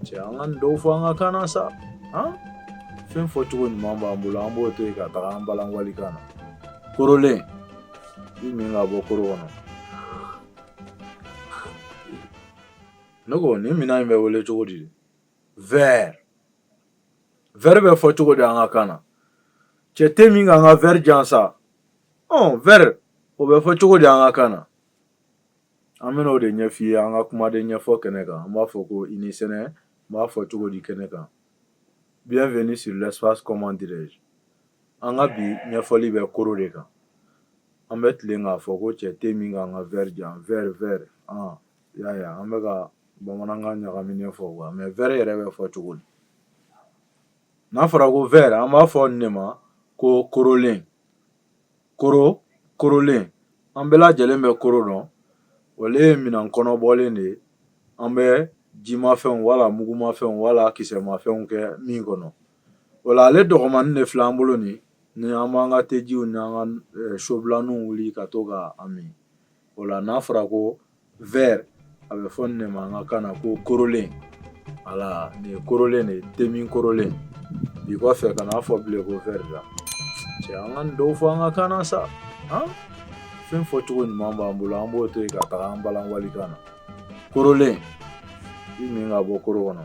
cɛ an ka nin dɔw fɔ an ka kan na sa han fɛn fɔcogo ɲuman b'an bolo an b'o to yen ka taga an balan walikan na korolen i min ka bɔ koro kɔnɔ ne ko nin minan in bɛ wele cogo di verre verre bɛ fɔ cogo di an ka kan na cɛ te min ka an ka verre di yan sa ɔ verre o bɛ fɔ cogo di an ka kan na An bɛna o de ɲɛf'i ye an ka kumaden ɲɛfɔ kɛnɛ kan an b'a fɔ ko i ni sɛnɛ n b'a fɔ cogo di kɛnɛ kan bienvenue sur l'espace comment dirais-je an ka bi ɲɛfɔli bɛ koro de kan an bɛ tilen k'a fɔ ko cɛ te min ka an ka verre di yan verre yala an bɛ ka bamanankan ɲagaminen fɔ wa mais verre yɛrɛ bɛ fɔ cogo di n'a fɔra ko verre an b'a fɔ nin de ma ko korolen koro korolen an bɛɛ lajɛlen bɛ koro dɔn ale ye minan kɔnɔbɔlen de ye an bɛ jimafɛnw wala mugumafɛnw wala kisɛmafɛnw kɛ min kɔnɔ voilà ale dɔgɔmanin de filɛ an bolo nin ni an b'an ka tejiw ni an ka sobilaninw wuli ka to ka a min o la n'a fɔra ko verre a bɛ fɔ nin de ma an ka kan na ko korolen voilà nin ye korolen de ye temin korolen bi kɔfɛ kan'a fɔ bilen ko verre la cɛ an ka nin dɔw fɔ an ka kan na sa han fɛn fɔcogo ɲuman b'an bolo an b'o to yen ka taga an balan walikan na korolen i min ka bɔ koro kɔnɔ